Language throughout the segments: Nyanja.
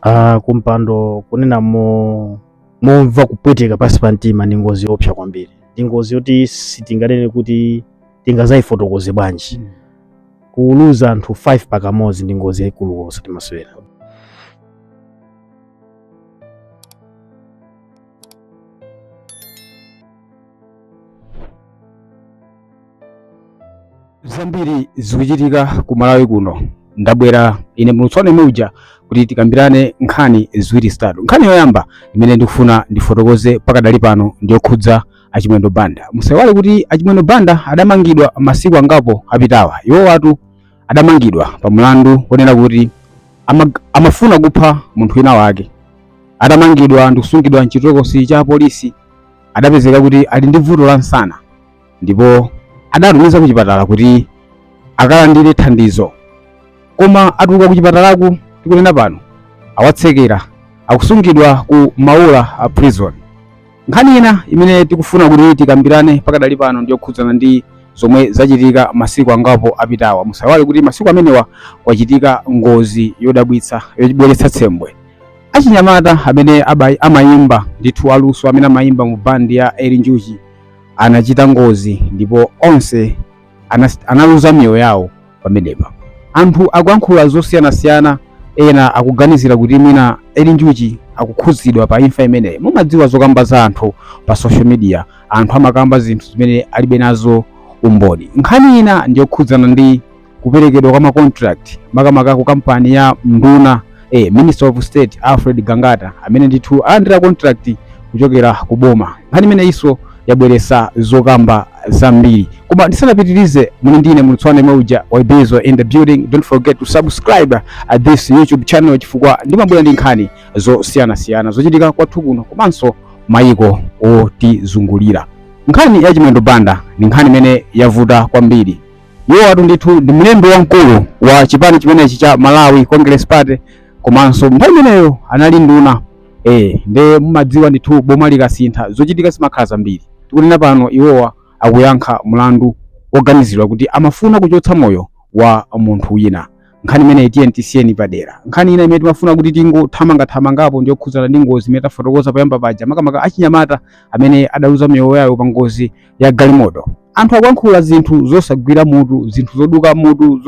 Ah, kumpanda kunena mo momva kupweteka pansi pa mtima ndi ngozi yopsa kwambiri ndi ngozi yoti sitinganene kuti tingazayifotokoze bwanji kuluza anthu 5 pakamodzi ndi ngozi yayikulu osati masewera zambiri zikuchitika ku malawi kuno ndabwera ine mlutswana muja kuti tikambirane nkhani ziwiri zitatu nkhani yoyamba imene ndikufuna ndifotokoze pakadali pano ndiyokhudza a chimwendo banda musaiwale kuti a chimwendo banda adamangidwa masiku angapo apitawa iwowatu adamangidwa pa mlandu wonena kuti ama, amafuna kupha munthu wina wake atamangidwa ndikusungidwa mchitokosi cha polisi adapezeka kuti ali ndi vuto la msana ndipo adatumiza ku chipatala kuti akalandire thandizo koma atuluka ku chipatalaku tikunena pano awatsekera akusungidwa ku maula a prison nkhani ina imene tikufuna kuti tikambirane pakadali pano ndiyokhudzana ndi zomwe zachitika masiku angapo apitawa musaiwale kuti masiku amenewa kwachitika ngozi yodabwitsa yobweretsa tsemwe achinyamata amene amayimba ndithu aluso amene amayimba mu bandi ya eli njuchi anachita ngozi ndipo onse anas- analuza miyoyo yawo pamenepa anthu akuyankhula zosiyanasiyana ena akuganizira kuti mwina eli njuchi akukhudzidwa pa imfa imeneyi mumadziwa zokamba za anthu pa social media anthu amakamba zinthu zimene alibe nazo umboni nkhani ina ndiyokhudzana ndi kuperekedwa kwa macontract makamaka ku kampani ya nduna eh, Minister of State Alfred Gangata amene ndithu alandira contract kuchokera ku boma. Nkhani imeneyinso yabweresa zokamba zambiri, koma ndisanapitirize muli ndi ine mlutswana muja wa Ibezo in the building. Don't forget to subscribe at this YouTube channel chifukwa ndimabwera ndi nkhani zosiyanasiyana zochitika kwathu kuno komanso mayiko otizungulira. Nkhani ya Chimwendo Banda ni nkhani imene yavuta kwambiri iwowatu ndithu ndi mlembi wamkulu wa chipani chimenechi cha Malawi Congress Party komanso nthawi imeneyo anali nduna eh, nde mumadziwa ndithu boma likasintha zochitika zimakhala zambiri. Tikunena pano iwowa akuyankha mlandu woganiziridwa kuti amafuna kuchotsa moyo wa munthu wina. Nkhani imeneyi tiyeni tisiyeni padera. Nkhani ina imene timafuna kuti tingothamanga thamangapo ndi yokhudzana ndi ngozi imene tafotokoza poyamba paja makamaka achinyamata amene adaluza miyoyo yawo pa ngozi ya galimoto. anthu akuyankhula zinthu zosagwira mutu zinthu zoduka mutu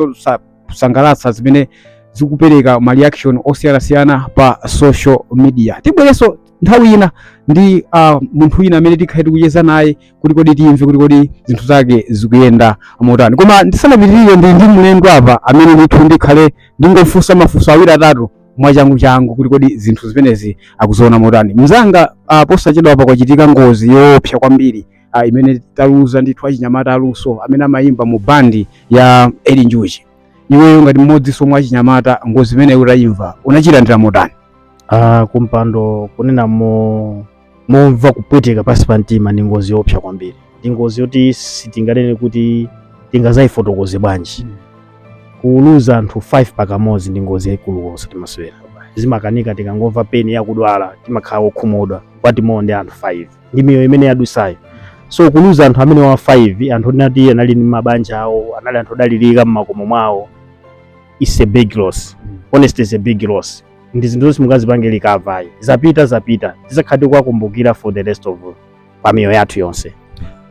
zosasangalatsa zimene zikupereka ma reaction osiyanasiyana pa social media tibwerenso nthawi ina ndi uh, munthu wina amene tikhale tikucheza naye kuti kodi timve kuti kodi zinthu zake zikuyenda motani koma ndisanapitirire ndi ndi mlendo apa amene ndithu ndikhale ndingofunsa mafunso awiri atatu mwachangu changu kuti kodi zinthu zimenezi akuziona motani mzanga uh, posachedwa apa kwachitika ngozi yoopsa kwambiri uh, imene taluza ndithu achinyamata aluso amene amayimba mu bandi ya Eli Njuchi iweyo ngati mmodzi somwe achinyamata ngozi imeneyi utayimva unayilandira motani Ah, kumpando kunena mo momva kupweteka pansi pa mtima ndi ngozi yoopsa kwambiri ndi ngozi yoti sitinganene kuti tingazayifotokoze bwanji Mm. kuluza anthu 5 pakamodzi ndi ngozi yayikulu osati masewera zimakanika tikangomva pena akudwala timakhala okhumudwa kuti bwanji ndi anthu 5 ndi miyoyo imene yadusayo so kuluza anthu amenewa 5 anthu oti anali ndi mabanja awo anali anthu odalirika mmakomo mwawo it's a big loss honestly it's a big loss ndi zinthu zoti sungazipange recover ayi zapita zapita tizakhala tiku wakumbukira for the rest of pa miyoyo yathu yonse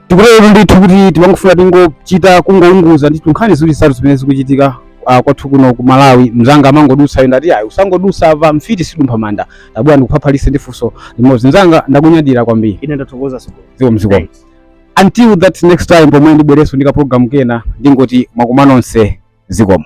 tikutero ndithu kuti timangofuna tingochita kungounguza ndithu nkhani ziwiri zitatu zimene zikuchitika ah, kwathu kuno ku malawi mzanga amangodusa apa ndati ayi usangodusa apa mfiti sidumpha manda tabwera ndikuphaphalise ndi funso limodzi mzanga ndakunyadira kwambiri ine ndathokoza so zikomo zikomo Thanks. until that next time pomwe ndibwereso ndi kaprogramu kena ndingoti mwakumana nonse zikomo